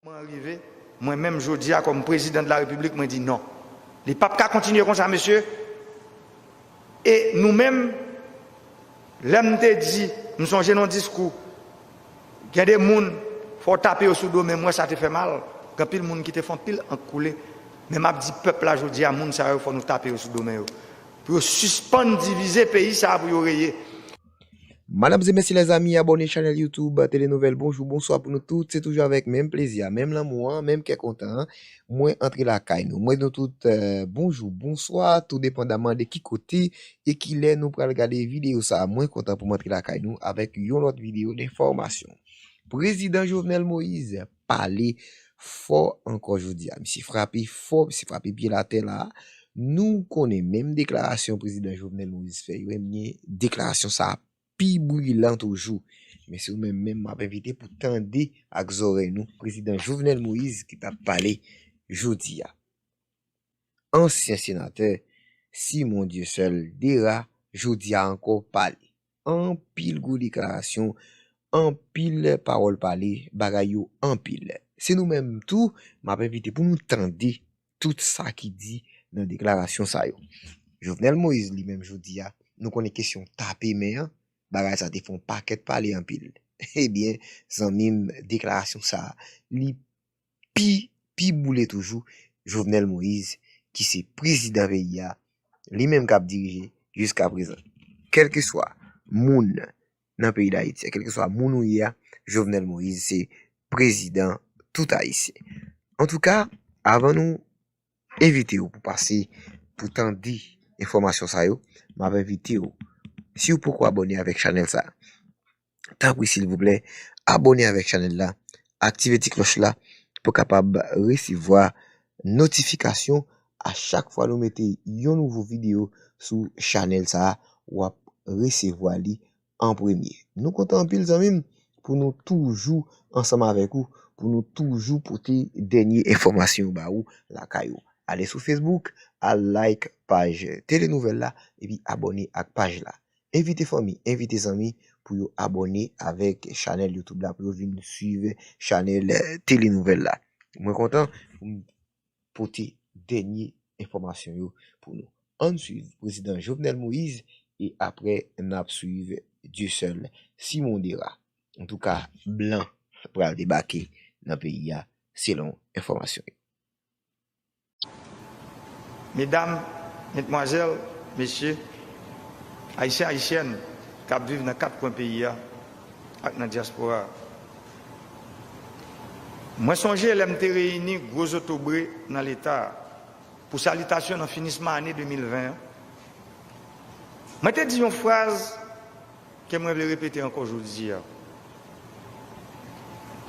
Moman an rive, mwen menm jodi a kòm prezidan de la repiblik mwen di non. Li pap ka kontinye konsa mesye e nou menm lè m te di m sonje nan yon diskou gen de moun fò w tape yo sou do men m wè sa te fè mal gen anpil moun ki te fè anpil ank koule men map di pèp la jodi a moun sa yo fò nou tape yo sou do men yo pou yo sispann divize peyi sa pou yo reye Madam ze mesye lèzami abòne chanèl YouTube tele nouvèl bonjou bonswa pou nou tout se toujou avèk menm plezi a menm lanmou an menm kè kontan an mwen antre la kay nou mwen nou tout bonjou bonswa tou depandaman de ki kote e ki lè nou pral gade videyo sa mwen kontan pou m antre la kay nou avèk yon lòt videyo de fòmasyon prezidan Jovenel Moise pale fò ankò jodi a. Misye frape fò, misye frape pye l atè la a. Nou konnen menm deklarasyon prezidan Jovenel Moïse fè yo, ebyen deklarasyon sa a pi bwilan toujou. Men se ou menm menm m ap envite pou tande ak zòrèy nou prezidan Jovenel Moïse ki t ap pale jodi a. Ansyen senatè Simon Dieuseul Dera jodi a ankò pale. Anpil gwo deklarasyon, anpil pawòl pale, bagay yo anpil. Se nou menm tou m ap envite pou nou tande tout sa ki di nan deklarasyon sa yo. Jovenel Moïse li menm jodi a, nou konnen kesyon tape men an, bagay sa te fè yon pakèt pale anpil. Ebyen zanmi m deklarasyon sa li pi pi boule toujou Jovenel Moïse ki se prezidan peyi a li menm kap dirije jiska prezan kelkeswa moun nan peyi dayiti kelkeswa moun ou ye a Jovenel Moïse se prezidan tout ayisyen antouka avan nou evitew pou pase pou tande enfòmasyon sa yo map evitew siw poko abòne avèk chanèl sa. tanpri silvouplè abone avèk chanèl la aktive ti klòch la pou kapab resevwa notifikasyon a chak fwa nou mete yon nouvo video sou chanèl sa wap resevwa li an premye nou kontan anpil zanmim pou nou toujou ansanm avèk ou pou nou toujou pote dènye enfòmasyon ba ou lakay ou ale sou facebook al like paj tele nouvèl la epi abone ak paj la Envite fanmi, envite zanmi pou yo abòne avèk chanèl youtube la pou yo vin swiv chanèl Tele Nouvèl la. Mwen kontan pou m pote dènye enfòmasyon yo pou nou. Ann swiv Prezidan Jovenel Moïse e aprè n ap swiv Dieuseul Simondera. Antouka blan pral debake nan peyi a selon enfòmasyon yo. Medam, Medmwazèl, Mesye, Ayisyen Ayisyèn k ap viv nan kat kwen peyi a ak nan dyaspora a, Mwen sonje lè m te reyini gwo zotobre nan Leta a pou salitasyon nan finisman ane 2020 an, mwen te di yon fraz Ke mwen vle repete ankò jodi a.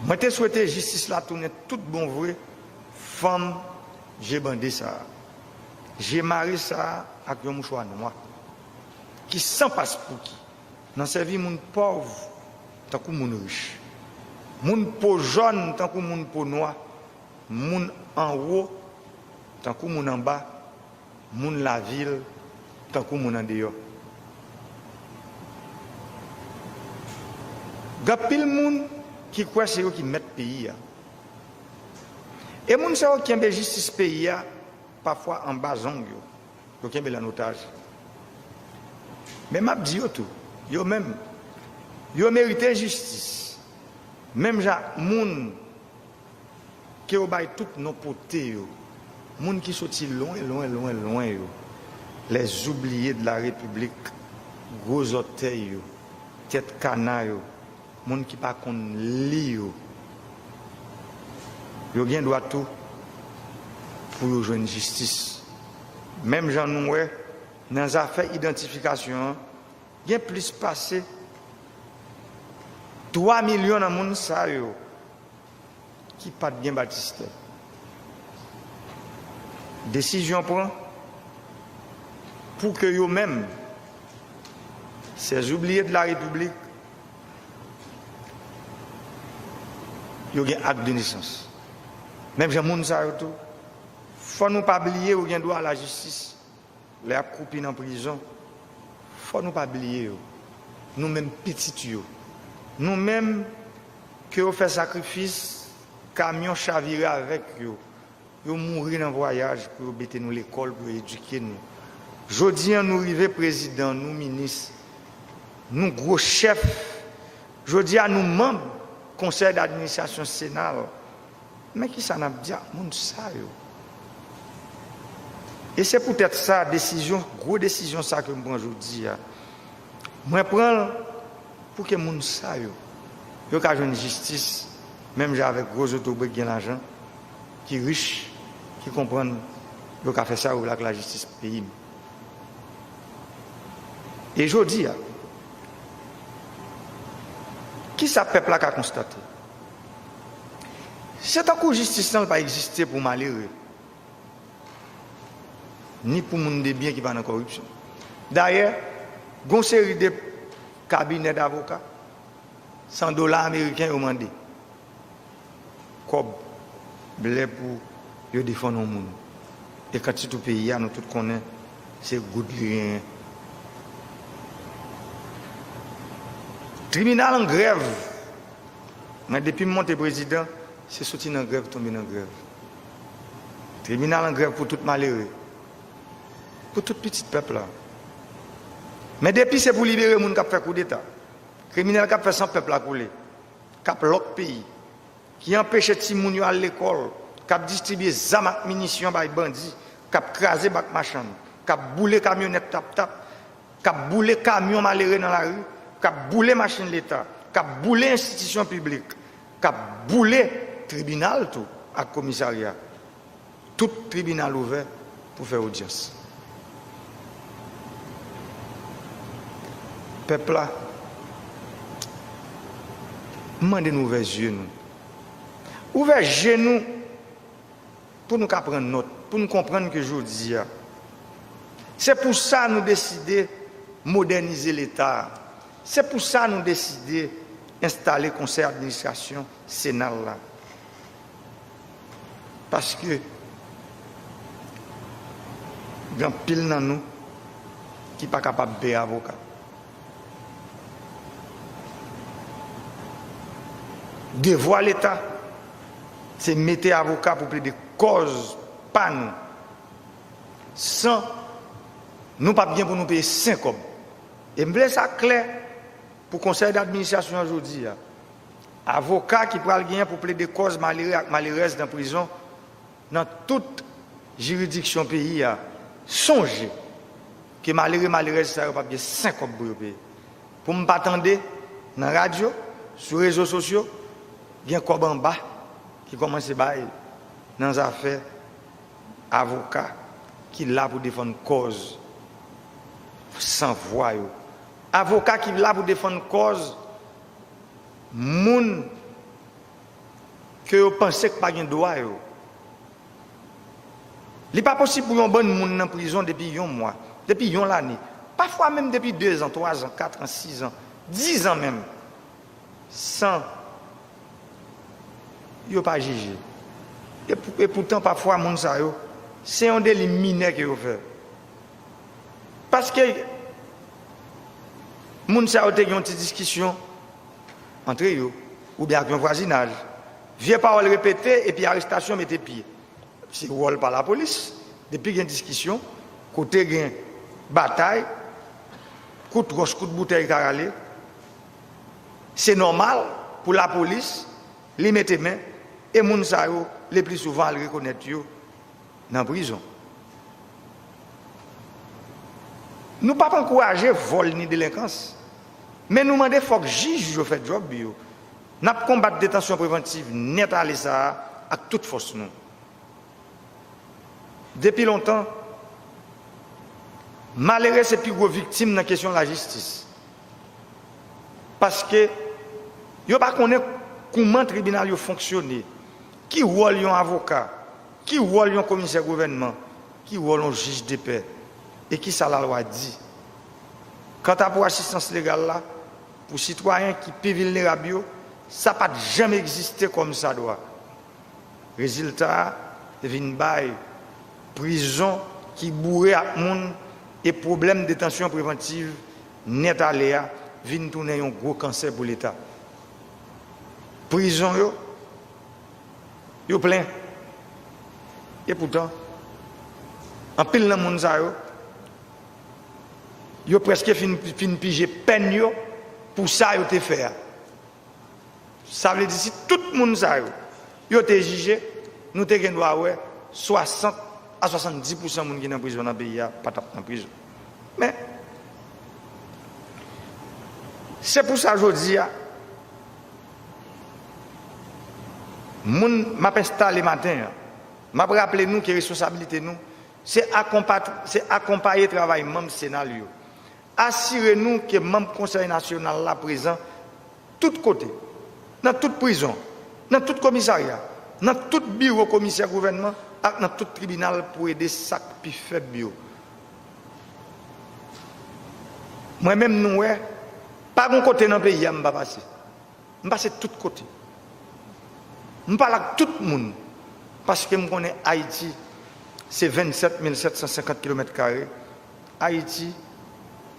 Mwen te swete jistis la tounen tout bon vre fanm je bande sa a, je mare sa a ak yon mouchwa nwa, ki san paspouki nan sèvi moun pòv tankou moun rich, moun po jòn tankou moun po nwa, moun anwo tankou moun anba, Moun lavil tankou moun andeyò. Gen anpil moun ki kwè se yo ki mèt peyi a. E moun sa yo kenbe jistis peyi a pafwa anba zong yo. Yo kenbe l an otaj. Men m ap di yo tou, yo menm, yo merite jistis menm jan ak moun. Ke yo bay tout non pote yo. Moun ki soti lwen, lwen, lwen, lwen yo. Lè zoubliye de la repiblik, gwo zòtèy yo, tèt kana yo, moun ki pa konn li yo. Yo gen dwa tou pou yo jwenn jistis. Menm jan nou wè, nan zafè idantifikasyon an, gen plis pase 3 milyon nan moun sa yo. ki pat gen batistè desizyon pran pou ke yo menm sèzoubliye de la repiblik yo gen ak de nesans menm jan moun sa yo tou fò nou pa bliye yo gen dwa a la jistis. Lè yap kroupi nan prizon, fò nou pa bliye yo, nou menm pitit yo, nou menm ke yo fè sakrifis, kamyon chavire avèk yo, yo mouri nan vwayaj pou yo bete nou lekòl, pou yo edike nou. Jodi an nou rive prezidan, nou minis, nou gwo chèf, jodi a nou manb konsèy dadministrasyon sena, Men kisa nap di ak moun sa yo. E se poutèt sa desizyon, gwo desizyon sa ke m pran jodi a, mwen pran l pou ke moun sa yo, yo ka jwenn jistis menm jan avèk gwo zotobre ki gen lajan, ki rich, ki konprann yo ka fè sa yo vle ak lajistis peyi m. E jodi a, kisa pèp la ka konstate? Se tankou jistis lan pa egziste pou malere, ni pou moun debyen ki pa nan kòripsyon. Dayè, gen yon seri de kabinè davoka, san dola ameriken yo mande, kòb blè pou yo defann yon moun. E kant sitou peyi a, nou tout konnen se goud li genyen. Tribinal an grèv. Mwen depim monte prezidan se soti nan grèv tonbe nan grèv tribinal an grèv pou tout malere pou tout pitit pèp la men depi se pou libere moun kap fè koudeta kriminèl kap fè san pèp la koule kap lòk peyi ki anpeche timoun yo al lekòl kap distribye zam ak minisyon bay bandi kap kraze bak machann kap boule kamyonèt taptap k ap boule kamyon malere nan lari, k ap boule machin Leta, k ap boule enstitisyon piblik, k ap boule tribinal tou ak komisarya. Tout tribinal ouvè pou fè odyans. Pèp la, m mande nou ouvè zye nou. Ouvè je nou Pou nou ka pran nòt, pou nou konprann ke jodi a. Se pou sa nou deside modènize Leta a. Se pou sa nou deside enstale Konsèy Administrasyon Sena l la. Paske gen anpil nan nou ki pa kapab peye avoka. Devwa leta se mete avoka pou plede kòz pa nou san nou pap gen pou nou peye sen kòb. E m vle sa klè pou konsèy d'administrasyon an jodi a, avoka ki pral gen pou plede kòz malere ak malerèz nan prizon nan tout jiridiksyon peyi a sonje ke malere malerèz sa yo pap gen sen kòb pou yo peye pou m pa tande nan radyo sou rezo sosyo gen kòb anba ki kòmanse bay nan zafè avoka ki la pou defann kòz san vwa yo avoka ki la pou defann kòz moun. ke yo panse k pa gen dwa yo. Li pa posib pou yon bann moun nan prizon depi yon mwa, depi yon lane, pafwa menm depi dezan, twazan, katran, sizan, dizan menm, san yo pa jije. E poutan pafwa moun sa yo, se yon deli minè ke yo fè. Paske moun sa yo te gen yon ti diskisyon. antre yo oubyen ak yon vwazinaj. Vye pawòl repete epi arestasyon mete pye. Se wòl pa lapolis, depi gen diskisyon, kote gen batay, kout wòch, kout boutèy ka rale, se nòmal pou lapolis li mete men e moun sa yo lepli souvan al rekonèt yo. nan prizon. Nou pap ankouraje vòl ni delenkans, men nou mande fòk jij yo fè djòb yo. N ap konbat detansyon prevantiv nèt ale sa a ak tout fòs nou. Depi lontan, malere se pi gwo viktim nan kesyon lajistis, paske yo pa konnen kouman tribinal yo fonksyone, ki wòl yon avoka. Ki wòl yon komisè gouvènman? Ki wòl yon jij depè? E ki sa lalwa di? Kanta pou asistans legal la, pou sitwayen ki pi vilnerab yo, sa pa t janm egziste kòmsadwa. Rezilta a vin bay prizon ki boure ak moun e pwoblèm detansyon prevantiv nèt ale a vin tounen yon gwo kansè pou Leta. Prizon yo. Yo plen. E poutan, anpil nan moun sa yo, yo prèske fin pije pèn yo pou sa yo te fè a. Sa vle di si tout moun sa yo, yo te jije, nou te gen dwa wè 60 a 70 pousan moun ki nan prizon nan peyi a pa t ap nan prizon. Men, se pou sa jodi a, Moun m ap enstale maten an, m ap raple nou ke responsabilite nou se akonpaye travay manm Sena l yo, asire nou ke manm Konsèy Nasyonal la prezan tout kote, nan tout prizon, nan tout komisarya, nan tout biwo komisè gouvènman ak nan tout tribinal pou ede sa k pi fèb yo. Mwen menm nou wè, pa gon kote nan peyi a m pa pase. M pase tout kote. M pale ak tout moun paske m konnen Ayiti se 27 mil 750 kilomèt kare, Ayiti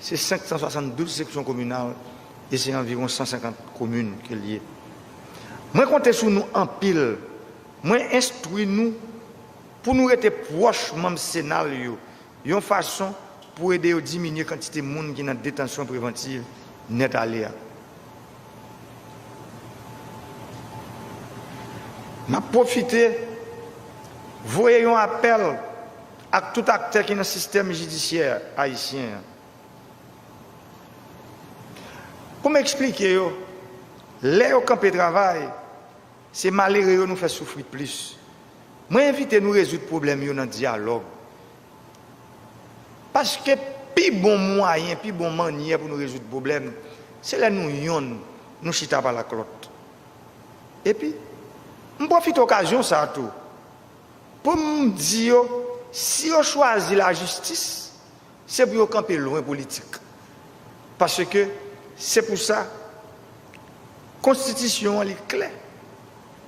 se 572 seksyon kominal e se anviwon 150 komin ke l ye. Mwen konte sou nou anpil, mwen enstwi nou. Pou nou rete pwòch manm Sena l yo yon fason pou ede yo diminye kantite moun ki nan detansyon prevantiv nèt ale a. M ap pwofite voye yon apèl ak tout aktè ki nan sistèm jidisyè ayisyen an pou m eksplike yo lè yo kanpe travay, Se malere yo nou fè soufri plis. Mwen envite nou rezoud pwoblèm yo nan dyalòg. Paske pi bon mwayen, pi bon mannyè pou nou rezoud pwoblèm, se lè nou yonn, nou chita pale ak lòt. Epi, m pwofite okazyon sa a tou, pou m di yo, si yo chwazi lajistis, Se pou yo kanpe lwen politik. Paske se pou sa konstitisyon an li klè.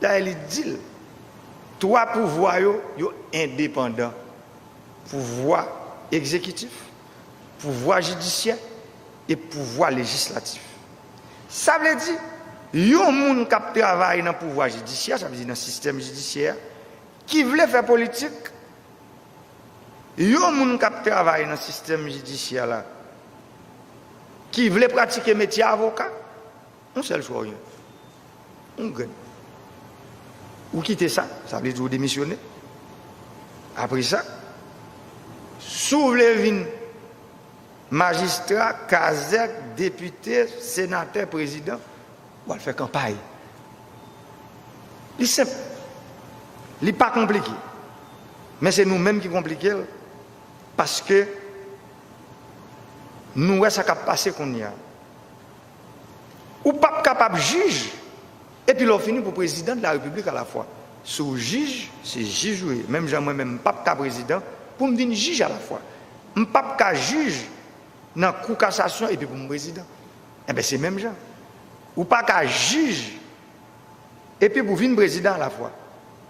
Dayè li di l, twa pouvwa yo, yo endepandan. Pouvwa egzekitif, pouvwa jidisyè e pouvwa lejislatif. Sa vle di yon moun k ap travay nan pouvwa jidisyè, sa vle di nan sistèm jidisyè a, Ki vle fè politik, yon moun kap travay nan sistèm jidisyè la, ki vle pratike metye avoka, yon sèl chwa ou jwenn, yon grèv. Ou kite sa, sa vle di ou demisyone. Apre sa, si w vle vin majistra, kazèk, depite, senatè, prezidan, Ou al fè kanpay. Li senp. Li pa konplike. Men se nou menm ki konplike l paske nou wè sa k ap pase kounye a. Ou pap kapab jij epi lè w fini pou prezidan de la repiblik alafwa. Si w jij, se jij ou ye. Menm jan mwen menm m pap ka prezidan pou m vin jij alafwa. M pap ka jij nan kou kasasyon epi pou m prezidan. Enben se menm jan. Ou pa ka jij epi pou vin prezidan alafwa.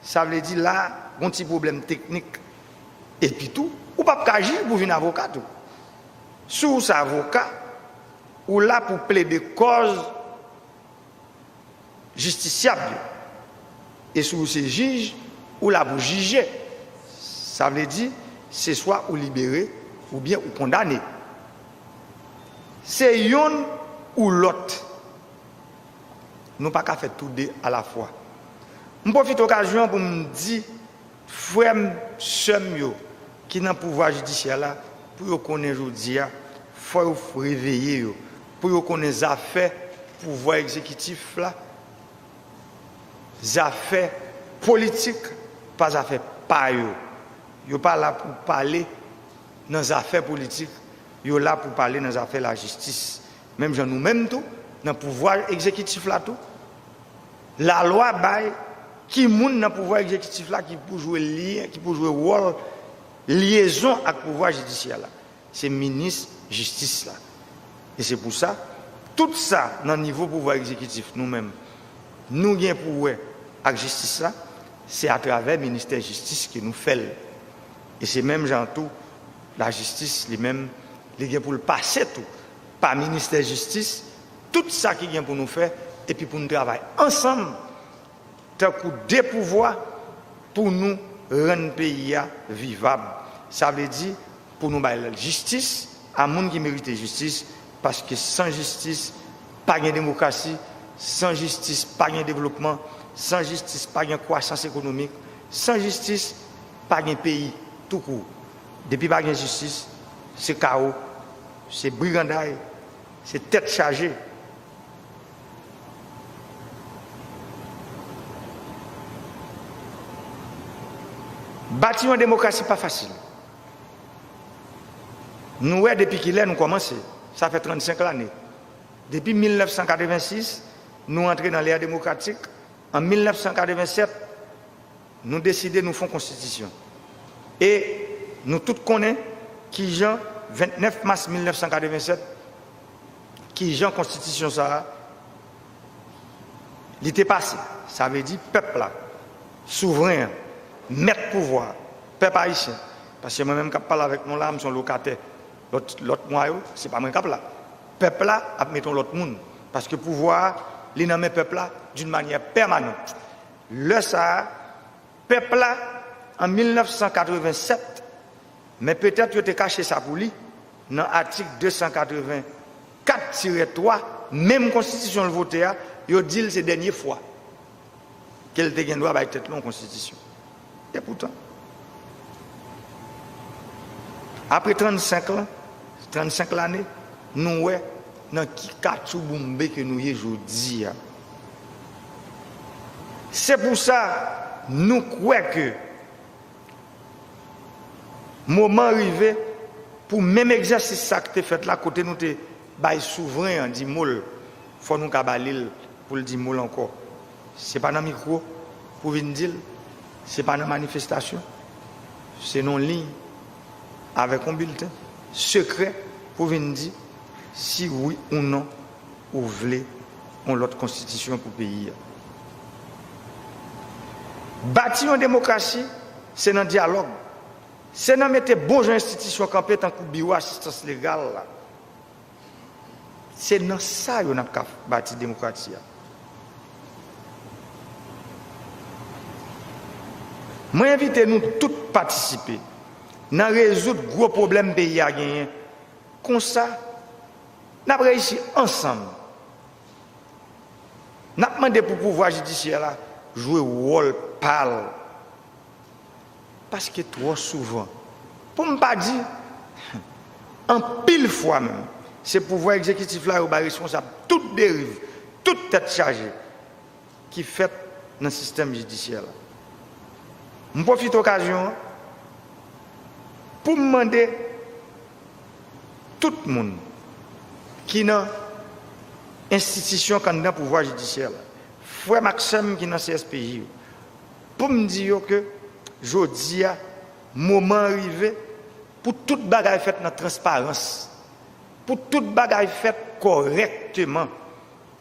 Sa vle di la gon ti pwoblèm teknik. Epi tou, ou pap ka jij pou vin avoka tou. Si w se avoka, ou la pou plede kòz jistisyab yo. E si w se jij, ou la pou jije. Sa vle di, se swa ou libere oubyen ou kondane. Se youn ou lòt. Nou pa ka fè tou de alafwa. M pwofite okazyon an pou m di. Frè m, sè m yo ki nan pouvwa jidisyè la, pou yo konnen jodi a, fò yo reveye yo, pou yo konnen zafè pouvwa egzekitif la, zafè politik pa zafè pa yo. Yo pa la pou pale nan zafè politik, yo la pou pale nan zafè lajistis. Menm jan nou menm tou, nan pouvwa egzekitif la tou, lalwa bay ki moun nan pouvwa egzekitif la ki pou jwe lyen, ki pou jwe wòl lyezon ak pouvwa jidisyè la. Se minis jistis la. E se pou sa, tout sa nan nivo pouvwa egzekitif nou menm nou gen pou wè ak jistis la, se atravè ministè jistis ke nou fè l. E se menm jan tou lajistis li menm li gen pou l pase tou pa ministè jistis, tout sa ki gen pou nou fè epi pou n travay ansanm tankou de pouvwa pou nou rann peyi a vivab. Sa vle di pou nou bay jistis a moun ki merite jistis paske san jistis pa gen demokrasi, san jistis pa gen devlopman, san jistis pa gen kwasans ekonomik, san jistis pa gen peyi tou kour. Depi pa gen jistis se kawo. Se briganday, se tèt chaje. Bati yon demokrasi pa fasil. Nou wè depi ki lè nou kòmanse, sa fè 35 lane. Depi 1986, nou antre nan lè demokratik, an 1987, Nou deside nou fon konstitisyon. E nou tout konnen ki jan 29 mas 1987, ki jan konstitisyon sa a, li te pase. Sa vle di pèp la, souvren an, mèt pouvwa a, pèp ayisyen, paske mwen menm k ap pale avèk nou la a, m se yon lokatè lòt mwa yo, se pa mwen k ap la. Pèp la ap mete yon lòt moun, paske pouvwa a, li nan men pèp la, d'une manière permanente. Lè sa a, pèp la, an 1987, men petèt yo te kache sa pou li, nan atik 284 tirè 3 menm konstitisyon l vote a, yo di l se dènye fwa ke l te gen dwa bay tèt li yon konstitisyon. Epoutan, apre 35 lan, 35 lane, nou wè nan ki katchouboumbe ke nou ye jodi a. Se pou sa nou kwè ke moman rive pou menm egzèsis sa k te fèt la kote nou te bay souvren an di mo l, fò nou ka ba li l pou l di mo l ankò. Se pa nan mikwo pou vin di l, se pa nan manifestasyon, se nan yon liy avèk yon bilten sekrè pou vin di si wi ou non Ou vle yon lòt konstitisyon pou peyi a. Bati yon demokrasi, se nan dyalòg, se nan mete bon jan enstitisyon kanpe tankou biwo asistans legal la. Se nan sa yo n ap ka bati demokrati a. Mwen envite nou tout patisipe nan rezoud gwo pwoblèm peyi a genyen. Konsa. Nap reyisi ansanm. Nap mande pou pouvwa jidisyè la jwe wòl pal. Paske twò souvan, pou m pa di anpil fwa menm, se pouvwa egzekitif la yo bay responsab tout deriv, tout tèt chaje. ki fèt nan sistèm jidisyè la. M pwofite okazyon an pou m mande tout moun ki nan enstitisyon k anndan pouvwa jidisyè la, frè m ak sè m ki nan CSPJ yo, pou m di yo ke jodi a moman an rive pou tout bagay fèt nan transparans, pou tout bagay fèt kòrèkteman.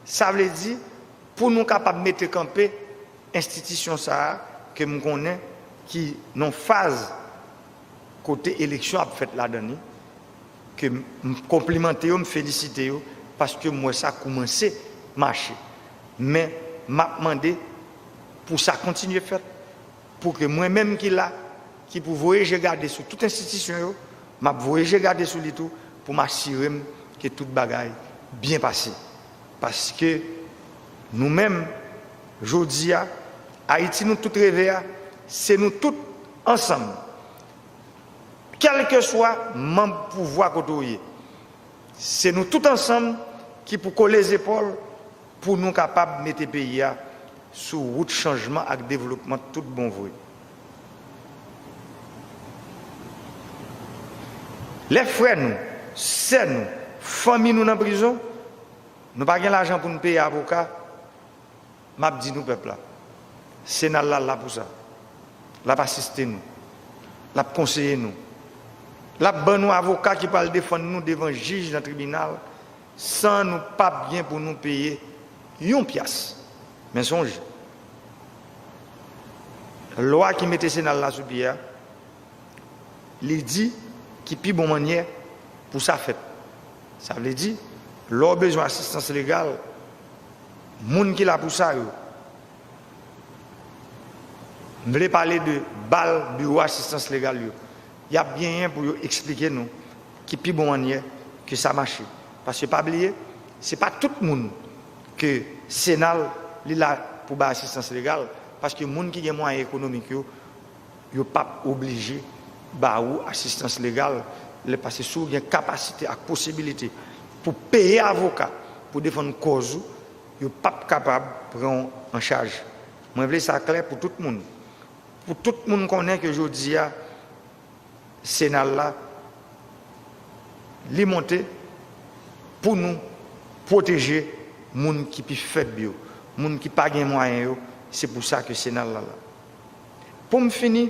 Sa vle di, pou nou kapab mete kanpe enstitisyon sa a ke m konnen ki nan faz kote eleksyon ap fèt ladan li, ke m konplimante yo, m felisite yo, paske m wè sa koumanse mache. Men, m ap mande pou sa kontinye fèt. Pou ke mwen menm ki la, ki pou voye je gade sou tout enstitisyon yo, m ap voye je gade sou li tou pou m asire m ke tout bagay byen pase. Paske nou menm, jodi a, Ayiti nou tout reve a, se nou tout ansanm, kèlkeswa manb pouvwa kote ou ye, se nou tout ansanm ki pou kole zepòl, Pou nou kapab mete peyi a sou wout chanjman ak devlopman tout bon vre. Lè frè nou, sè nou, fanmi nou nan prizon, nou pa gen lajan pou nou peye avoka, m ap di nou pèp la, Sena la la pou sa. L ap asiste nou. L ap konseye nou. L ap ban nou avoka ki pral defann nou devan jij nan tribinal. San nou pap gen pou nou peye yon pyas. Men sonje, lwa ki mete senal la sou pye a, li di ki pi bon mannyè pou sa fèt. Sa vle di, lè w bezwen asistans legal, moun ki la pou sa yo, m vle pale de bal biwo asistans legal yo, Y ap genyen pou yo eksplike nou ki pi bon mannyè ke sa mache. Paske pa bliye, se pa tout moun ke Sena l li la pou bay asistans legal, paske moun ki gen mwayen ekonomik yo, yo p ap oblije ba ou asistans legal lè pase si w gen kapasite ak posibilite pou peye avoka pou defann kòz ou, yo p ap kapab pran w an chaj. Mwen vle sa klè pou tout moun. Pou tout moun konnen ke jodi a Senal la li monte pou nou pwoteje moun ki pi fèb yo, moun ki pa gen mwayen yo, se pou sa ke Senal la la. Pou m fini,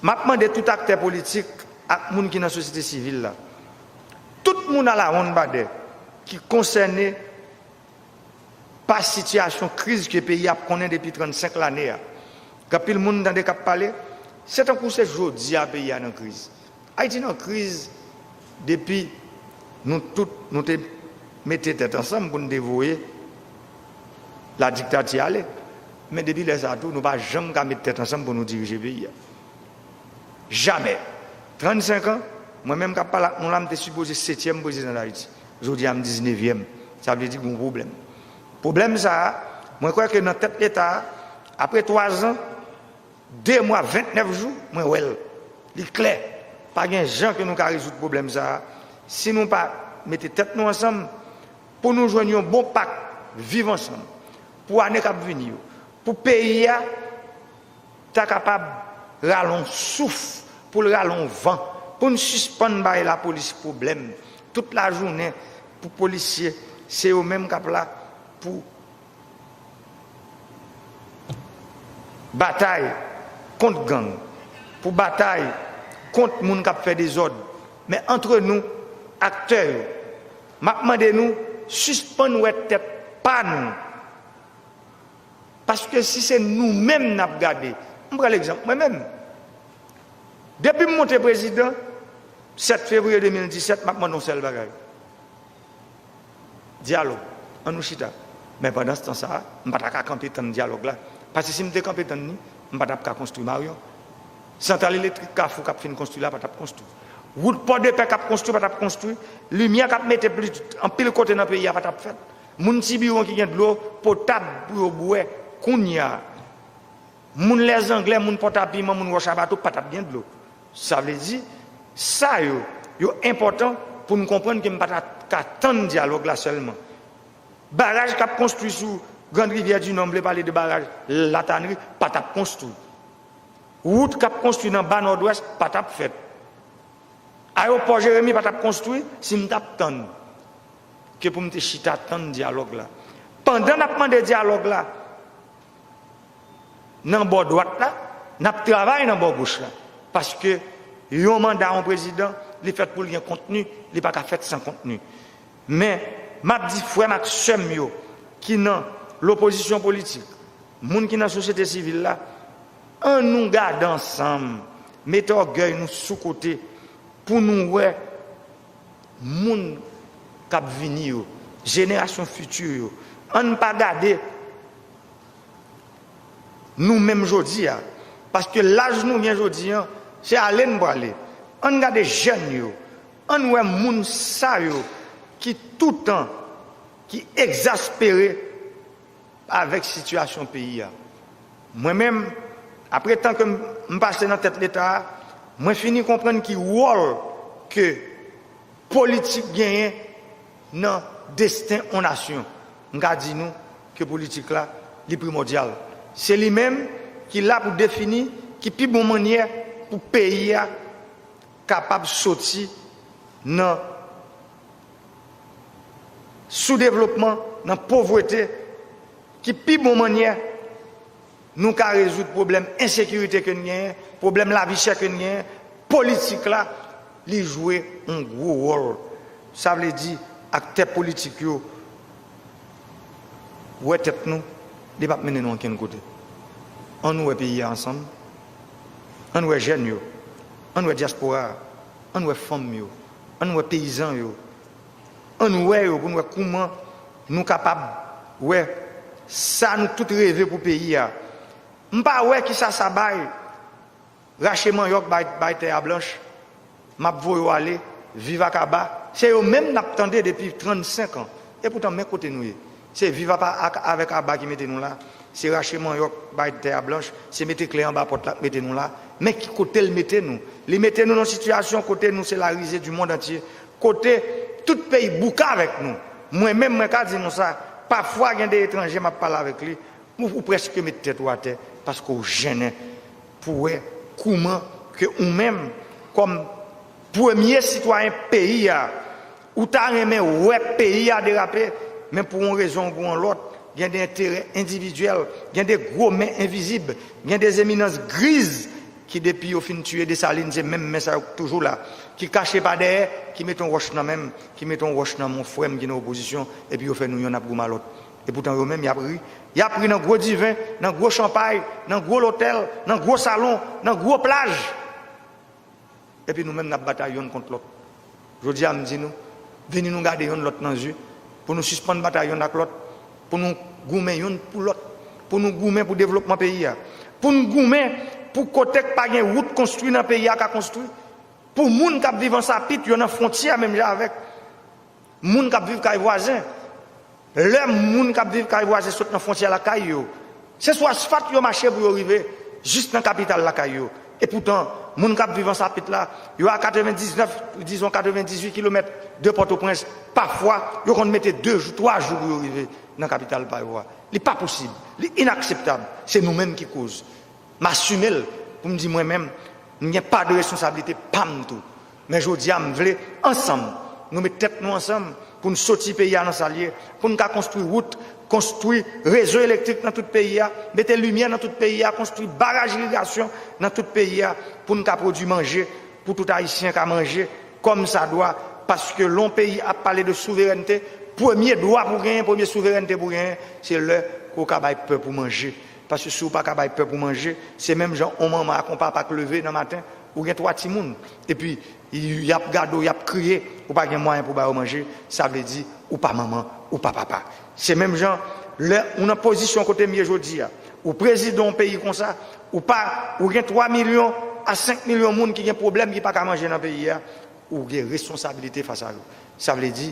m ap mande tout aktè politik ak moun ki nan sosyete sivil la, tout moun alawonnbadè ki konsène pa sitiyasyon kriz ke peyi a ap konnen depi 35 lane a, ke anpil moun tande k ap pale, se tankou se jodi a peyi a nan kriz. Ayiti nan kriz depi nou tout nou te mete tèt ansanm pou nou te voye ladiktati ale, men depi lè sa a tou nou pa janm ka met tèt ansanm pou nou dirije peyi a. Jamè! 35 an, mwen menm k ap pale ak nou la m te sipoze setyèm prezidan Dayiti. Jodi a m diznevyèm, sa vle di gon pwoblèm. Pwoblèm sa a, mwen kwè ke nan tèt Leta a, apre twazan, de mwa, ventnèf jou, mwen wè l. Li klè, pa gen jan ke nou ka rezoud pwoblèm sa a si nou pa mete tèt nou ansanm pou nou jwenn yon bon pak viv ansanm pou ane k ap vini yo, pou peyi a. ta kapab rale on souf, pou l rale on van, pou n sispann bay lapolis pwoblèm tout lajounen pou polisye se yo menm k ap la pou batay kont gang, pou batay kont moun k ap fè dezòd. Men antre nou, aktè yo, m ap mande nou sispann wè tèt pa nou. Paske si se nou menm nap gade, m pran legzanp mwen menm. Depi m monte prezidan, 7 fevriye 2017, m ap mande yon sèl bagay, dyalòg, an nou chita. Men pandanstan sa a, m pa ta ka kanpe tann dyalòg la. Paske si m te kanpe tann li, m pa t ap ka konstwi Maryon. Santral elektrik Kafou k ap fin konstwi la pa t ap konstwi. Wout Pòdepè k ap konstwi pa t ap konstwi. Limyè k ap mete anpil kote nan peyi a pa t ap fèt. Moun Tibiwon ki gen dlo potab pou yo bwè kounya. Moun Lèzanglè, moun Pòtapiman, moun Wòchabato pa t ap gen dlo. Sa vle di, sa yo, yo enpòtan pou n konprann ke m pa ta ka tann dyalòg la sèlman. Baraj k ap konstwi sou Grand Rivière du Nord, m vle pale de baraj La Tannerie, pa t ap konstwi. Wout k ap konstwi nan Ba Nòdwès pa t ap fèt. Ayewopò Jeremi pa t ap konstwi si m t ap tann. Ke pou m te chita tann dyalòg la. Pandan n ap mande dyalòg la nan bò dwat la, n ap travay nan bò goch la. Paske yon manda yon prezidan, li fèt pou l gen kontni, li pa ka fèt san kontni. Men, m ap di frè m ak sè m yo ki nan lopozisyon politik, moun ki nan sosyete sivil la, an nou gade ansanm, mete ògèy nou sou kote pou nou wè moun k ap vini yo, jenerasyon fiti yo, ann pa gade nou menm jodi a, paske laj nou gen jodi an, se ale n prale, ann gade jèn yo, ann wè moun sa yo ki toutan, ki egzaspere. Avèk sitiyasyon peyi a. Mwen menm, apre tan ke m pase nan tèt Leta a, mwen fini konprann ki wòl ke politik genyen nan desten on nasyon. M ka di nou ke politik la, li primòdyal. Se li menm ki la pou defini ki pi bon mannyè pou peyi a kapab soti nan soudevlopman, nan povrete ki pi bon mannyè nou ka rezoud pwoblèm ensekirite ke n genyen, pwoblèm lavi chè ke n genyen, politik la li jwe yon gwo wòl. Sa vle di aktè politik yo wè tèt nou, li pap mennen nou ankenn kote. An nou wè peyi a ansanm, an nou wè jèn yo, an nou wè dyaspora a, an nou wè fanm yo. Ann wè peyizan yo. Ann wè yo pou n wè kouman nou kapab wè sa nou tout reve pou peyi a. M pa wè kisa sa bay. Rache manyòk bay tè a blanch. M ap voye w ale. Viv ak aba. Se yo menm n ap tande depi 35 an. Epoutan men kote nou ye. Se viv apa ak avèk aba ki mete nou la, se rache manyòk bay tè a blanch, se mete kle anba pòt la k mete nou la, men ki kote l mete nou? Li mete nou nan sitiyasyon kote nou se la rize di mond antye, kote tout peyi bouke avèk nou. Mwen menm mwen ka di nou sa, pafwa gen de etranje m ap pale avèk li, ou prèske met tèt ou atè paske w jennen pou wè kouman ke ou menm kòm premye sitwayen peyi a, Ou ta renmen wè peyi a derape, men pou yon rezon oubyen yon lòt, gen de enterè endividyèl, gen de gwo men envizib, gen de eminans griz ki depi yo fin tiye Desalin se menm men sa yo k toujou la, ki kache pa dèyè, ki mete yon wòch nan men m, ki mete yon wòch nan men yon frè m ki nan opozisyon, epi yo fè nou yonn ap goumen a lòt. Epoutan yo menm y ap ri. Y ap ri nan gwo diven, nan gwo chanpay, nan gwo lotèl, nan gwo salon, nan gwo plaj. Epi nou menm n ap batay yonn kont lòt. Jodi a m di nou, vini nou gade yonn lòt nan zye, pou nou sispann batay yonn ak lòt, pou nou goumen yonn pou lòt, pou nou goumen pou devlopman peyi a, pou n goumen pou kote k pa gen wout konstwi nan peyi a ka konstwi, pou moun k ap viv ansapit yo nan fwontyè menm jan avèk. Moun k ap viv kay vwazen. Lè moun k ap viv kay vwazen sot nan fwontyè lakay yo, se sou asfalt yo mache pou yo rive jis nan kapital lakay yo. Epoutan, moun k ap viv Ansapit la, yo a 99, dizon 98 kilomèt de Pòtoprens, pafwa, yo konn mete 2 jou, 3 jou pou yo rive nan kapital pa yo a. Li pa posib, li inakseptab, se nou menm ki koz. M asime l pou m di mwen menm, m gen pa de responsablite pa m tou. Men jodi a m vle ansanm nou met tèt nou ansanm pou n soti peyi a nan sa l ye, pou n ka konstwi wout, konstwi rezo elektrik nan tout peyi a, mete limyè nan tout peyi a, konstwi baraj irigasyon nan tout peyi a pou n ka pwodwi manje pou tout Ayisyen ka manje kòm sa dwa paske lè yon peyi ap pale de souverènte premye dwa pou w genyen, premye souverènte pou w genyen se lè ke w ka bay pèp ou manje paske si w pa ka bay pèp ou manje se menm jan yon manman ak yon papa k leve nan maten Ou gen 3 timoun epi yap gade w yap kriye ou pa gen mwayen pou ba yo manje sa vle di ou pa manman ou pa papa se menm jan lè ou nan pozisyon kote m ye jodi a ou prezidan yon peyi konsa ou pa ou gen 3 milyon a 5 milyon moun ki gen pwoblèm ki pa ka manje nan peyi a ou gen responsabilite fas a yo sa vle di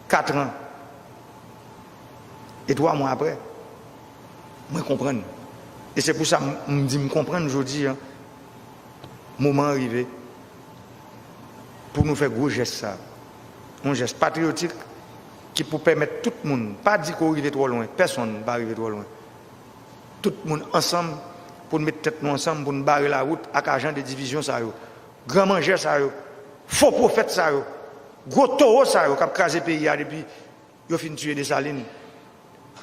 4 an e 3 mwa aprè. Mwen konprann. E se pou sa m di m konprann jodi a moman an rive pou nou fè gwo jès sa. Yon jès patriyotik ki pou pèmèt tout moun, pa di ke w rive twò lwen, pèsonn pa rive twò lwen, tout moun ansanm pou n met tèt nou ansanm pou n bare lawout ak ajan de divizyon sa yo, gran manjè sa yo, fo pwofèt sa yo, gwo towo sa yo k ap kraze peyi a depi. Yo fin tuye Dessalines.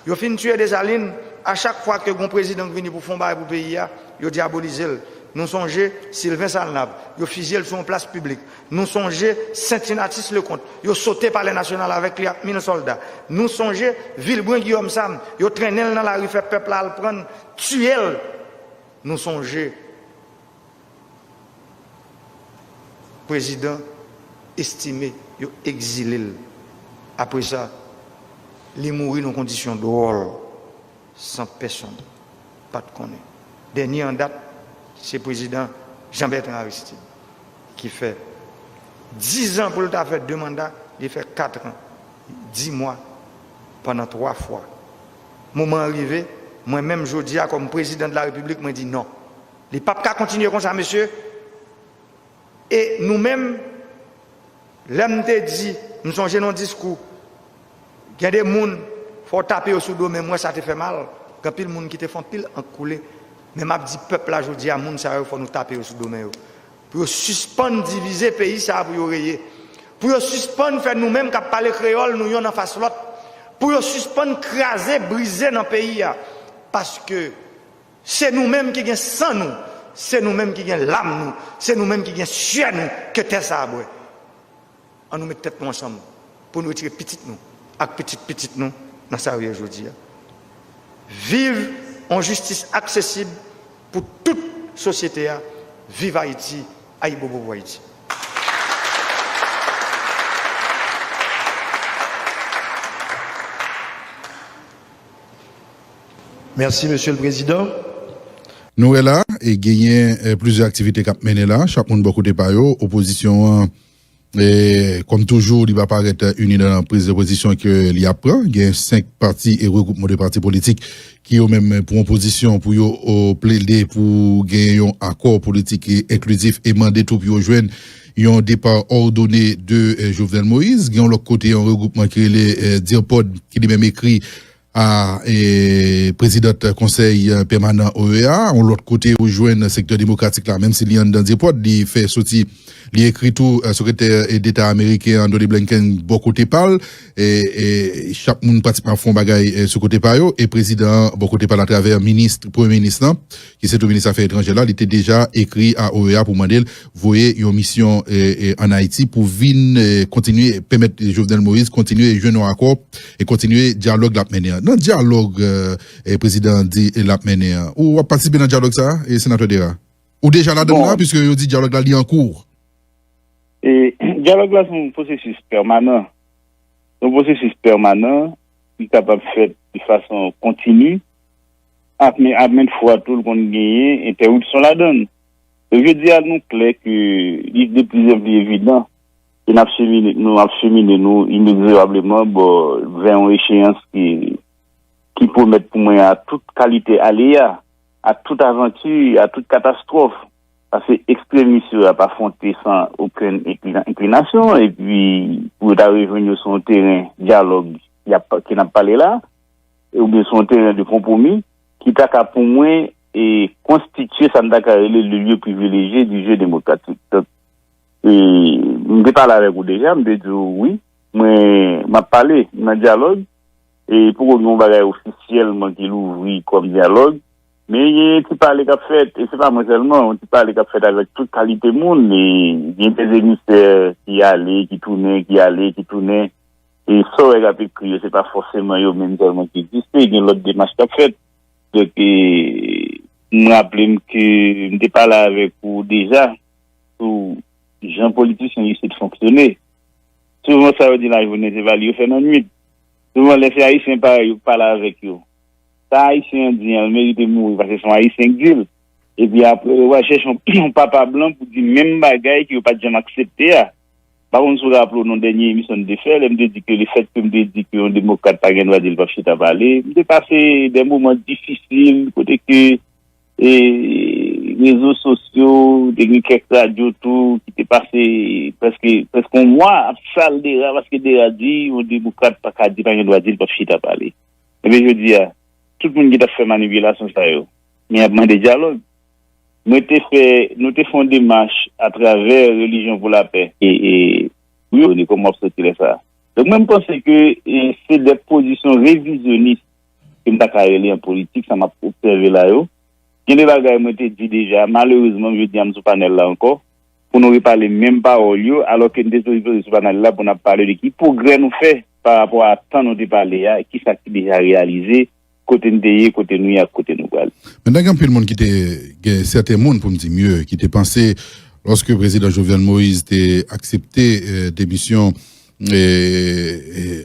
Yo fin tuye Dessalines, a chak fwa ke gon prezidan k vini pou fon bagay pou peyi a, yo dyabolize l. Nou sonje Sylvain Salnave, yo fizye l sou yon plas piblik. Nou sonje Saintin Atis Leconte, yo sote palè nasyonal avèk li ak mil sòlda. Nou sonje Vilbrun Guillaume Sam, yo trennen l nan lari fè pèp la al pran l, tuye l. Nou sonje. Prezidan Estimé yo egzile l, apre sa li mouri nan kondisyon dwòl san pèsonn pa t konnen. Dènye an dat se Prezidan Jean Bertrand Aristide ki fè dizan pou l ta fè de manda, li fè katran di mwa pandan twa fwa. Moman an rive, mwen menm jodi a kòm Prezidan de la Repiblik mwen di non. Li pap ka kontinye konsa mesye e nou menm lèm te di m sonje nan yon diskou gen de moun fò w tape yo sou do menm wè sa te fè mal gen anpil moun ki te fè anpil ank koule men map di pèp la jodi a moun sa yo fò nou tape yo sou do men yo pou yo sispann divize peyi sa pou yo reye pou yo sispann fè nou menm kap pale kreyòl nou yonn anfas lòt pou yo sispann kraze brize nan peyi a paske. Se nou menm ki gen san nou, se nou menm ki gen lam nou, se nou menm ki gen syè nou ke tè sa a bwè. An nou met tèt nou ansanm pou nou retire pitit nou ak pitit pitit nou nan sa yo ye jodi a. Viv yon jistis aksesib pou tout sosyete a, viv Ayiti, Ayibobo pou Ayiti. Merci Monsieur le Président. Nou wè la, genyen plizyè aktivite k ap mennen la, chak moun bò kote pa yo. Opozisyon an, kòm toujou, li pa parèt ini nan priz de pozisyon ke li ap pran. Gen 5 pati e regwoupman de pati politik ki yo menm pran pozisyon pou yo plede pou genyen yon akò politik ki enklizif e mande tou pou yo jwenn yon depa òdone de Jovenel Moïse. Gen yon lòt kote yon regwoupman ki rele DIRPOD ki li menm ekri a prezidant konsèy pèmanan OEA a yon lòt kote ou jwenn sektè demokratik la menm si li anndan dyepròt li fè soti li ekri tou sekretè deta ameriken Anthony Blinken bò kote pa l chak moun pratikman ap fè yon bagay sou kote pa yo e prezidan an bò kote pa l atravè minis premye minis lan ki se tou minis afè etranjè la, li te deja ekri a OEA pou mande l voye yon misyon ann Ayiti pou vin kontinye pèmèt Jovenel Moïse kontinye jwenn yon akò e kontinye dyalòg l ap mennen an. Nan dyalòg prezidan an di l ap mennen an, ou ap patisipe nan dyalòg sa a, Senatè Dera? Ou deja ladan l la, piske yo di dyalòg la li an kour? Dyalòg la se yon pwosesis pèmanan. Se yon pwosesis pèmanan ki kapab fèt de fason kontini. ak men a mèt fwa tou l konn genyen entèwipsyon ladan l. Jodi a nou klè ke li de pli an pli evidan ke n ap chemine nou ap chemine nou inexorableman bò vè yon echeyans ki ki pwomèt pou mwen a tout kalite aleya, a tout avanti, a tout katastwòf pase ekstremis yo ap afwonte san okenn enklinasyon epi pou yo ta rejwenn yo sou yon teren dyalòg y ap ke n ap pale la a. oubyen se yon teren de konpwomi, ki ta ka pou mwen e konstitye sa m ta ka rele le lieu privilegie du jeu demokratik. Donk, e m te pale avèk ou deja, m te di w wi, mwen m ap pale, m nan dyalòg, e poko gen yon bagay ofisyèlman ki louvri kòm dyalòg, men gen yon ti pale k ap fèt, e se pa mwen sèlman, yon ti pale k ap fèt avèk tout kalite moun, e gen dè emisè ki ale, ki tounen, ki ale, ki tounen. E sa w wè k ap ekri yo, se pa fòseman yo menm sèlman ki egziste, gen lòt demach k ap fèt. Donk, m raple m ke m te pale avèk ou deja sou jan politisyen isit fonksyone. Souvan sa yo di lajounen se pa li yo fè nan nuit. Souvan lè se Ayisyen parèy yo k pale avèk yo, sa Ayisyen an di an, l merite mouri paske se yon Ayisyen k di l. Epi apre yo va chèche yon papa blan pou di menm bagay ke yo pa t janm aksepte a. Pa konn si w raple w nan dènye emisyon n te fè, lè m te di ke lefètke m te di ke yon demokrat pa gen dwa di l p ap chita pale, m te pase de moman difisil kote ke rezo sosyo, te gen kèk radyo tou ki te pase prèske yon mwa ap sal Dera paske Dera di yon demokrat pa ka di, pa gen dwa di l p ap chita pale. Ebyen jodi a, tout moun ki t ap fè manipilasyon sa yo, men y ap mande dyalòg. Mwen te fè, nou te fè yon demach atravè Relijyon pou Lapè. E, wi Rony, kòman w ap santi lè sa a? Donk mwen m panse ke se de pozisyon revizyonis ke m ta ka rele an politik, sa m ap obsève la yo. Gen de bagay mwen te di deja, malerezman jodi a m sou panèl la ankò, pou nou repale menm pawòl yo, alò ke n te sipoze sou panèl la pou n ap pale de ki pwogrè nou fè parapò a tan nou te pale a, kisa ki deja reyalize, kote n te ye, kote nou ye ak kote nou pral. Pandan gen anpil moun ki te, gen sèten moun pou m di mye, ki te panse lòske Prezidan Jovenel Moïse te aksepte demisyon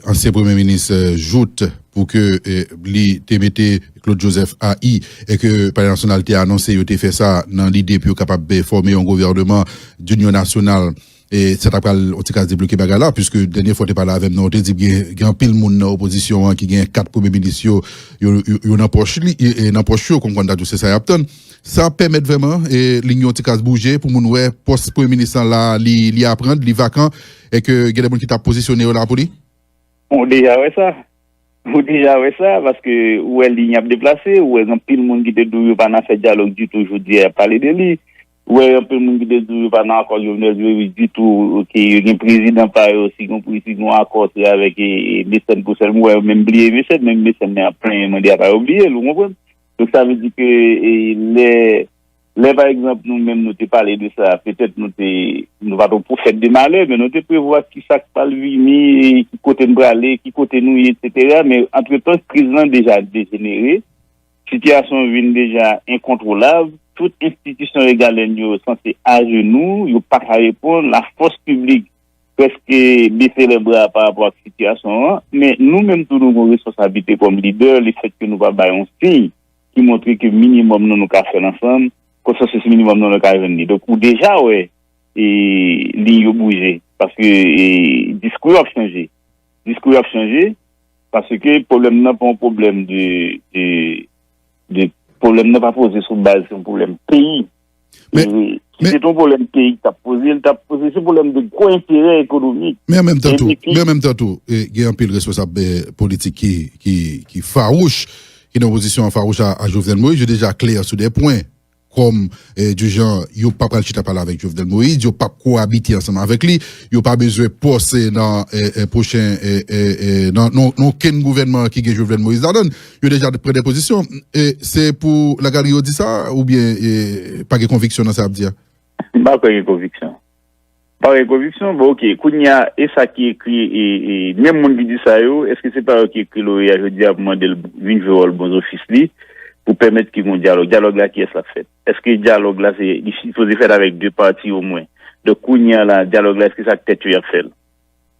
ansyen Premye Minis Jout pou ke li te mete Claude Joseph a i e ke Palè Nasyonal te anonse yo te fè sa nan lide pou yo kapab fòme yon gouvèneman dinyonnasyonal E sa ta pral on ti ka debloke bagay la puiske dènye fwa ou te pale avè m nan ou te di m gen anpil moun nan opozisyon an ki gen kat premye minis yo yo nan pòch li nan pòch yo konn konn ta di w se sa y ap tann sa ap pèmèt vrèman lign yo ti ka bouje pou moun wè pòs premye minis lan la li aprann li vakan e ke gen de moun ki ta pozisyone yo la pou li? Ou deja wè sa ou deja wè sa paske ou wè lign ap deplase ou wè gen anpil moun ki te di w yo pa nan fè dyalòg ditou jodi a y ap pale de li. Ou wè anpil moun ki te di w yo pa nan akò Jovenel vle di ditou ke yo gen prezidan pa yo si gon pri si gon akò se avèk Mecène pou sèlman ou wè yo menm bliye Mecène menm Mecène nan y ap plenyen mande a pa yo bliye l ou konprann donk sa vle di ke lè lè pa egzanp nou menm nou te pale de sa petèt nou te nou pa t on pwofèt de malè men nou te prevwa ki sa k pral vini ki kote n prale ki kote nou ye eksetera men antretan kriz lan deja dejenere Sitiyasyon an vin deja enkontwolab, tout enstitisyon regalèn yo santi ajenou, yo pa ka reponn, lafòs piblik prèske bese lèbra pa rapò ak sitiyasyon an, men nou menm tou nou gen yon responsablite kòm lidè lefèt ke nou pa bay yon siy ki montre ke minimòm nan nou ka fè l ansanm, konsansis minimòm nan nou ka jwenn li. Donk ou deja wè liy yo bouje paske diskou yo ap chanje. Diskou yo ap chanje, paske pwoblèm nan pa yon pwoblèm de, pwoblèm nan pa poze sou baz yon pwoblèm peyi. Si se te yon pwoblèm peyi ki t ap poze, li t ap poze sou pwoblèm de gwo enterè ekonomik. Men an menm tan tou, men an menm tan tou, gen anpil responsab politik ki fawouch, ki nan opozisyon an fawouch a Jovenel Moïse, yo deja klè sou de pwen. kòm du genre yo pa pral chita pale avèk Jovenel Moïse, yo pap koabite ansanm avèk li, yo pa bezwen pòs nan pwochen nan okenn gouvènman ki gen Jovenel Moïse ladan l, yo deja pran dè pozisyon. Se pou lagalri yo di sa oubyen pa gen konviksyon nan sa y ap di a? M pa kwè gen konviksyon. Parèy konviksyon, bon ok, kounye a, e sa ki ekri e e menm moun ki di sa yo, èske se pa yo ki ekri loreya jodi a pou mande l vin jwe wòl bon zofis li pou pèmèt ki gon dyalòg? Dyalòg la kiyès l ap fèt? Èske dyalòg la se li sipoze fèt avèk 2 pati omwen? Donk kounye a la, dyalòg la èske se ak tèt yo y ap fè l?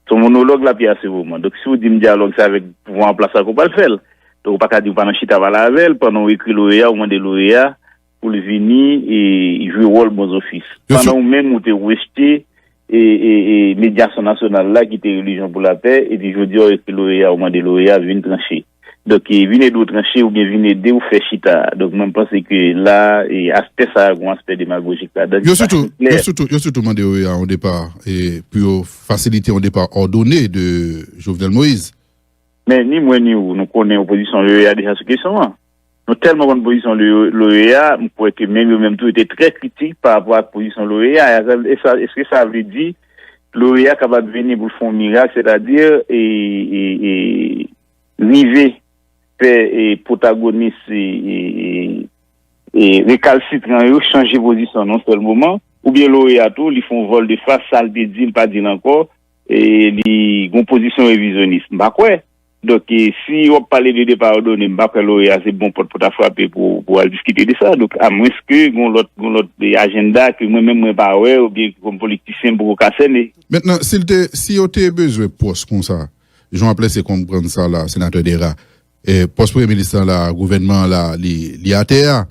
Se yon monològ l ap ye a se moman. Donk si ou di m dyalòg se avèk pouvwa an plas la ke w pral fè l. Donk ou pa ka di ou pa nan chita pale avè l pandan ou ekri loreya ou mande loreya Pou l vini e jwe wòl bon zofis. Pandan ou menm ou te rejte medyasyon nasyonal la ki te relijyon pou lapè, epi jodi a w ekri loreya ou mande loreya a vin tranche. Donk vin ede w tranche oubyen vin ede w fè chita. Donk mwen panse ke la aspè sa a gen yon aspè demagojik ladan. Yo sitou mande loreya yon depa pou yo fasilite yon depa òdone de Jovenel Moïse. Men ni mwen ni ou nou konnen opozisyon loreya deja sou kesyon an. Nou tèlman konn pozisyon l'OEA, m kwè ke menm yo menm tou yo te trè kritik pa rapò ak pozisyon l'OEA a. Eske sa vle di l'OEA kapab vini pou l fè yon mirak, sètadi rive fè pwotagonis rekalsitran yo chanje pozisyon nan yon sèl moman? Oubyen l'OEA tou li fè yon vòl de fas, sa l te di li pa di l ankò, li gen yon pozisyon revizyonis? M pa kwè. Donk, si wap pale de depa òdone, m pa kwè Lorea se bon pòt pou ta frape pou al diskite de sa. Donk, a mwens ke gon lòt, gon lòt ajenda ke mwen menm mwen pa wè ou byen ke kòm politisyen m poko ka sène. Mentnan, si l te, si yo te bezwen pòs konsa, jan wap lèse konprann sa la, Senatè Dera, pòs Premye Minis lan la, gouvènman an la, li atè a,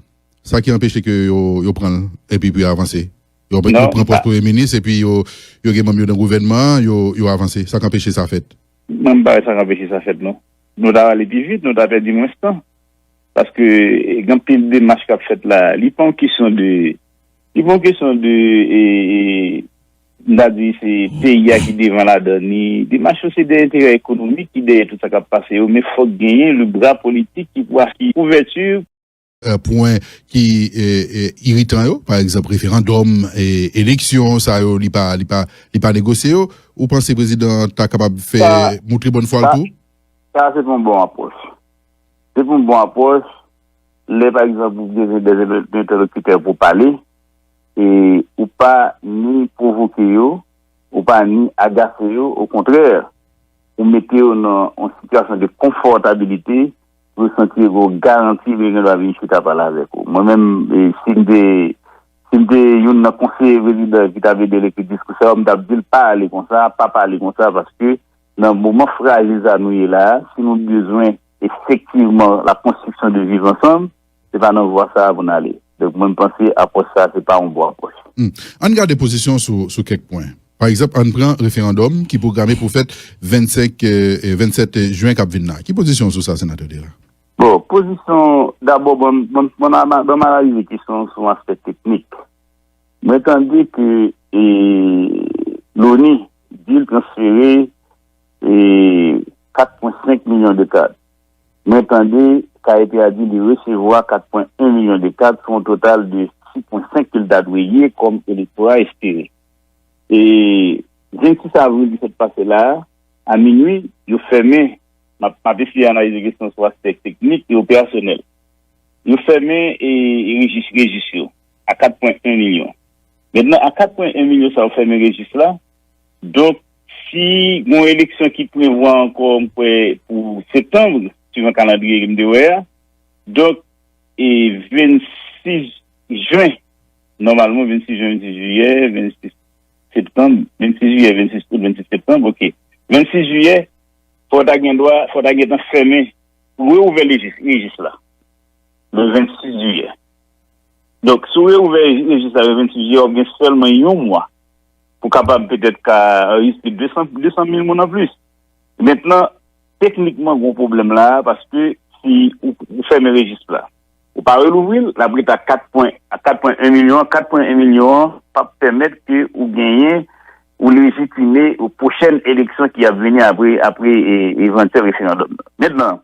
sa ki anpeche ke yo, yo pran l epi pou yo avanse? Yo pran pòs Premye Minis epi yo, yo gen manm yo nan gouvènman an, yo, yo avanse. Sa k anpeche sa fèt? Menm bagay sa k anpeche sa fèt non. Nou ta ale pi vit, nou ta pèdi mwens tan. Paske gen anpil demach k ap fèt la. Li pa yon kesyon de, li pa yon kesyon de, m ta di se peyi a ki devan ladan ni demach yo. Se de enterè ekonomik ki dèyè tout sa k ap pase yo. Men fòk genyen le bra politik ki pou asire kouvèti. pwen ki iritan yo pa egzanp referandòm eleksyon sa yo li pa negosye yo ou panse prezidan an ta kapab fè moutre bòn fwa l tou? Sa a se pa yon bon apwòch se pa yon bon apwòch lè pa egzanp ou bezwen de entèlokitè pou pale e ou pa ni pwovoke yo ou pa ni agase yo okontrè ou mete yo nan yon sitiyasyon de konfòtabilite Yo santi yo gen yon garanti lè yo gen dwa vin chita pale avèk ou. Mwen menm, si m te si m te youn nan konseye prezidan an ki t ap ede l ekri diskou sa yo, m t ap di l pa ale konsa, pa pale konsa paske nan moman frajil sa a nou ye la a, si nou bezwen efektivman la konstriksyon de viv ansanm, Se pa nan vwa sa a pou n ale. Donk, mwen m panse apwòch sa a se pa yon bon apwòch. Ann gade pozisyon w sou kèk pwen. Pa egzanp, ann pran referandòm ki pwograme pou fèt 25, 27 jen k ap vin la. Ki pozisyon w sou sa, Senatè Dera? Bon, pozisyon, dabò, bon, bon m analize kesyon an sou yon aspè teknik. Mwen tande ke Loni di l transfere 4,5 milyon de kat. Mwen tande Kayepi a di li resevwa 4.1 milyon de kat sou yon total de 6.5 ke l ta dwe ye kòm elektora espere. E 26 avril ki sot pase la a, a minui, yo fèmen, m ap m ap eseye analize kesyon sou aspè teknik e operasyonèl, yo fèmen e rejis rejis yo a 4.1 milyon. Mentnan a 4.1 milyon sa yo fèmen rejis la, Donk, si gen yon eleksyon ki prevwa ankò m kwè pou septanm, suivan kalandriye ke m te wè a, donk 26 jen, nòmalman 26 jen, 26 jiyè, 26 septanm, 26 jiyè, 26 out, 26 septanm, ok, 26 jiyè, fò ta gen dwa, fò ta gen tan fèmen, reouvè rejis la le 26 jiyè. Donk, si w reouvè rejis la le 26 jiyè, w ap gen sèlman yon mwa. pou kapab petèt ka anrejistre 200 mil moun anplis. Mentnan, teknikman gwo pwoblèm la a paske si ou fèmen rejis la, ou pa relouvri l, l ap rete a 4 pwen 1 milyon an, 4 pwen 1 milyon an p ap pèmèt ke ou genyen, ou lejitime pwochèn eleksyon ki ap vini apre evantyèl referandòm nan. Mentnan.